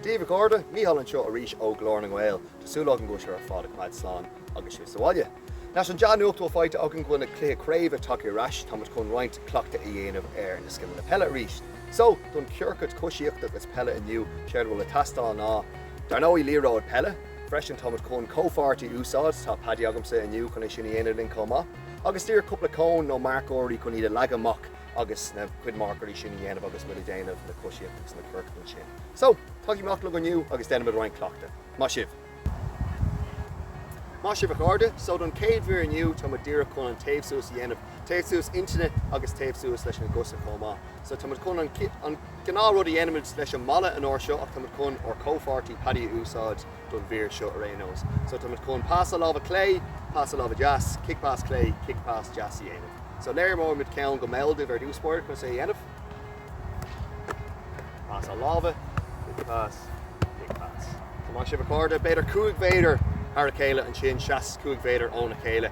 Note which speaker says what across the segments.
Speaker 1: Dia daoibh a chairde, Mícheál anseo arís ó Ghlór na nGael. Tá súil agam go bhfuil sibh ar fad ag coimeád slán agus sibh sa bhaile. Leis an dea-nuacht a bhfuil faighte againn go bhfuil na cluichí craoibhe tagtha ar ais, tá muid chun roinnt cleachtaidh a dhéanamh ar na scileanna peile arís. So, don chiorcad coisíochta agus peile inniu, séard a bhfuil ag teastáil ná, dar ndóigh, liathróid peile. Freisin, tá muid chun comhpháirtí a úsáid, tá Paddy agamsa inniu chun é sin a dhéanamh linn chomh maith. agus díreach cúpla cón nó marcóirí chun iad a leagadh amach agus na cuid marcóirí sin a dhéanamh agus muid ag déanamh na coisíocht agus na ciorcaid ansin. So, tagaigí amach liom inniu agus déanfaimid roinnt cleachta. Maith sibh! Maith sibh a chairde, so don chéad mhír inniu tá muid díreach chun an téamh suas a dhéanamh, téamh suas intinne agus téamh suas leis na gcosa chomh maith. So tá muid chun an gnáth rud a dhéanaimid leis an mballa an uair seo ach tá muid chun ár comhpháirtí Paddy a úsáid, don mhír seo ar aon nós. So tá muid chun pas a láimhe clé, pas a láimhe deas, cic pas clé, cic pas deas a dhéanamh. So léireoidh muid ceann go mall daoibh ar dtús báire conas é a dhéanamh. Pas a láimhe, cic pas, cic pas. So maith sibh a chairde, b'fhéidir cúig mhéadar óna chéile ansin, seas cúig mhéadar óna chéile.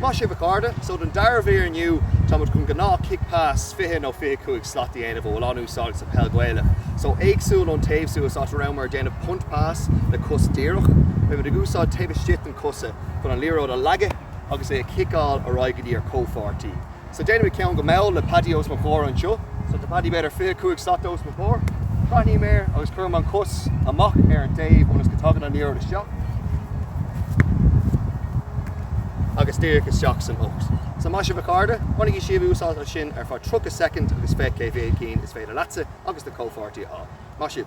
Speaker 1: Maith sibh a chairde. So don dara mhír inniu táimid chun gnáth chic pas 20 nó 25 slat a dhéanamh a bhfuil an-úsáideach sa peil Ghaelach. So éagsúil ón téamh suas áit a rabhamar ag déanamh punt pas le cos díreach, beimid ag úsáid taobh istigh den chosa chun an liathróid a leagadh agus é a chiceáil ar aghaidh go dtí ár gcomhpháirtí. So déanaimid ceann go mall le Paddy os mo chomhair anseo. So tá Paddy b'fhéidir 25 slat os mo chomhair. Breathnaím air agus cuirim an chos amach ar an dtaobh ionas go dtagann an liathróid isteach agus díreach isteach san ucht. So maith sibh a chairde, bainigí sibh úsáid as sin ar feadh 30 soicind agus féach cé mhéad cinn is féidir leatsa agus do chomhpháirtí a fháil. Maith sibh.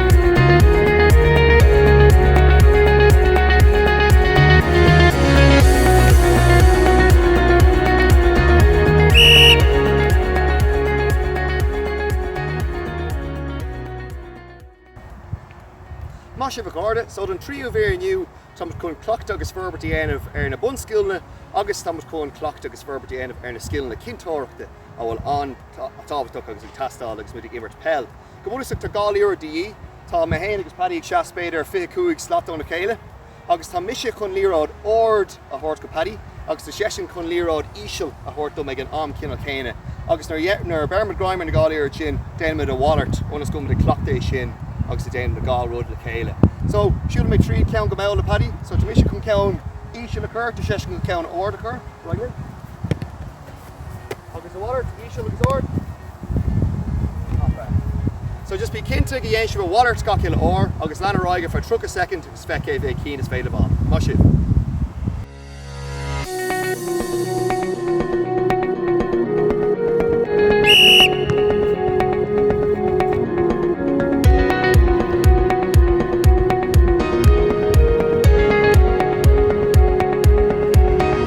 Speaker 1: Maith sibh a chairde, so don tríú mhír inniu. Tá muid chun cleachtadh agus forbairt a dhéanamh ar na bunscileanna agus tá muid chun cleachtadh agus forbairt a dhéanamh ar na scileanna cinnteoireachta a bhfuil an-tábhachtach agus ag teastáil agus muid ag imirt peil. Go bunúsach tá dhá liathróid de dhíth, tá mé féin agus Paddy ag seas b'fhéidir fiche cúig slat óna chéile agus tá mise chun liathróid ard a thabhairt go Paddy agus tá seisean chun liathróid íseal a thabhairt dom ag an am ceannann céanna agus nuair a bheirimid greim ar na dhá liathróid sin déanaimid a mhalairt ionas go mbeimid ag cleachtadh é sin agus ag déanamh na dhá rud le chéile. So, siúlaimid tríd ceann go mall le Paddy, so tá mise chun ceann íseal a chur, tá seisean chun ceann ard a chur, right linn? Agus a mhalairt, íseal agus ard. Not bad. So just bí cinnte go ndéanann sibh a mhalairt gach uile uair agus lean ar aghaidh ar feadh 30 soicind agus féach cé mhéad cinn is féidir libh. Maith sibh!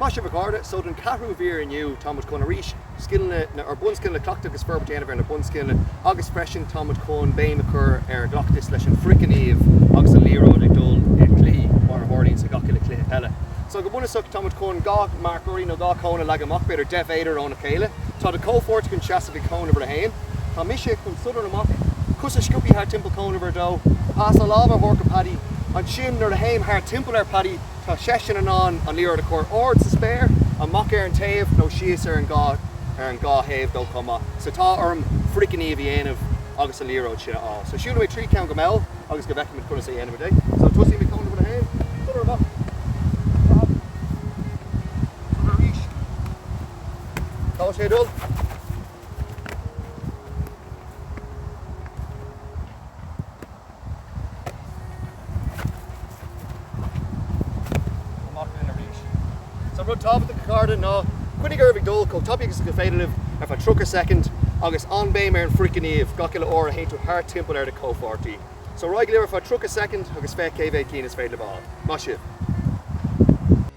Speaker 1: Maith sibh a chairde, so don ceathrú mhír inniu tá muid chun arís scileanna na ar bunscileanna cleachtadh agus forbairt a dhéanamh ar na bunscileanna agus freisin tá muid chun béim a chur ar chleachtas leis an frithghníomh agus an liathróid ag dul i do choinne mar a tharlaíonn sa gach uile chluiche eile. So go bunúsach tá muid chun dhá marcóirí nó dhá chón a leagadh amach b'fhéidir deich mhéadar óna chéile. Tá do chomhpháirt chun seasamh ag cón uimhir a haon. Tá mise chun sodar amach, cos a scuabadh thart timpeall cón uimhir a dó, pas láimhe a thabhairt go Paddy, ansin nuair a théim thart timpeall ar Paddy, Tá seisean in ann an liathróid a chur ard sa spéir, amach ar an taobh nó síos ar an dhá thaobh dó chomh maith. So tá orm frithghníomh a dhéanamh agus an liathróid sin a fháil. So siúlfaidh mé tríd ceann go mall ionas go bhfeicfimid conas a dhéanfaimid é. So tosaím ag cón uimhir a haon, corner amach, leath, corner arís, tá sé ag dul, Amach linn arís. Is é rud tábhachtach a chairde ná coinnigh oraibh ag dul chomh tapaidh agus is féidir libh ar feadh 30 soicind agus an-béim ar an frithghníomh gach uile uair a théann tú thart timpeall ar do chomhpháirtí. So ar aghaidh libh ar feadh 30 soicind agus féach cé mhéad cinn is féidir libh a fháil. Maith sibh!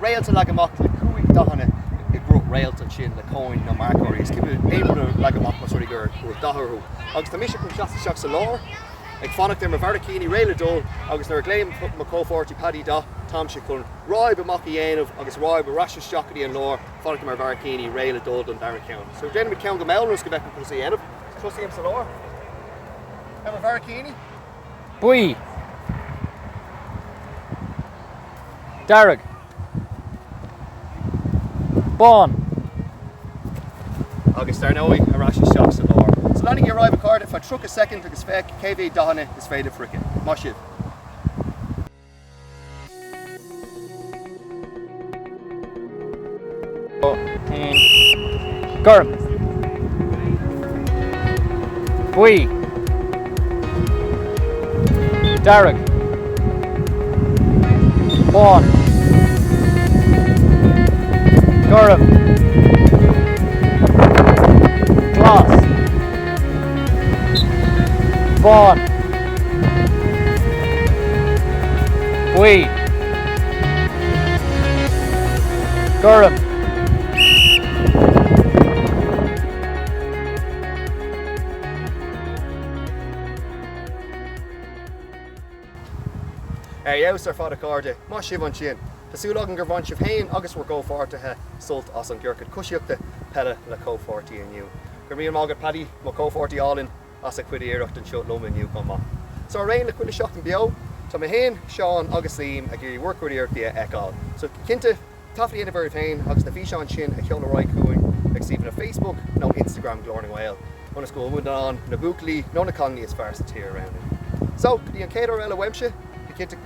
Speaker 1: Réalta leagtha amach le cúig dathanna i gcruth réalt, ansin le cóin nó marcóirí is cinnte aon rud a leagadh amach más rud é go raibh dath orthu. Agus tá mise chun teacht isteach sa lár, ag fanacht ar mo bharraicíní réidh le dul agus nuair a ghlaonn mo chomhpháirtí Paddy dath, táimse chun ráib amach a dhéanamh agus ráib ar ais isteach go dtí an lár, fanacht ar mo bharraicíní réidh le dul don dara ceann. So déanfaimid ceann go mall ionas go bhfeicfimid conas é a dhéanamh. Tosaím sa lár. Ar mo bharraicíní. buí, dearg, bán. Agus dar ndóigh, ar ais isteach sa lár. So leanaigí ar aghaidh a chairde, ar feadh 30 soicind agus féach cé mhéad dathanna is féidir freisin. Maith sibh! Gorm. Buí. Dearg. Bán. Gorm. Glas. bán, buí, gorm. Ar fheabhas ar fad a chairde, maith sibh ansin. Tá súil agam gur bhain sibh féin agus bhur gcomhpháirtithe sult as an gciorcad coisíochta peile le comhpháirtí inniu. Go raibh míle maith agat Paddy, mo chomhpháirtí álainn, as a chuid iarracht anseo liom inniu chomh maith. So araon le chuile Seachtain Beo, tá mé féin, Seán agus Liam ag iarraidh bhur gcuid iarrachtaí a fheiceáil. So cinnte, taifead a dhéanamh oraibh féin agus na físeáin sin a sheoladh ar aghaidh chugainn ag suíomhanna Facebook nó Instagram Ghlór na nGael ionas go bhfuil muid in ann na buachaillí nó na cailíní is fearr sa tír a roghnú. So go dtí an chéad uair eile uaimse, bí cinnte go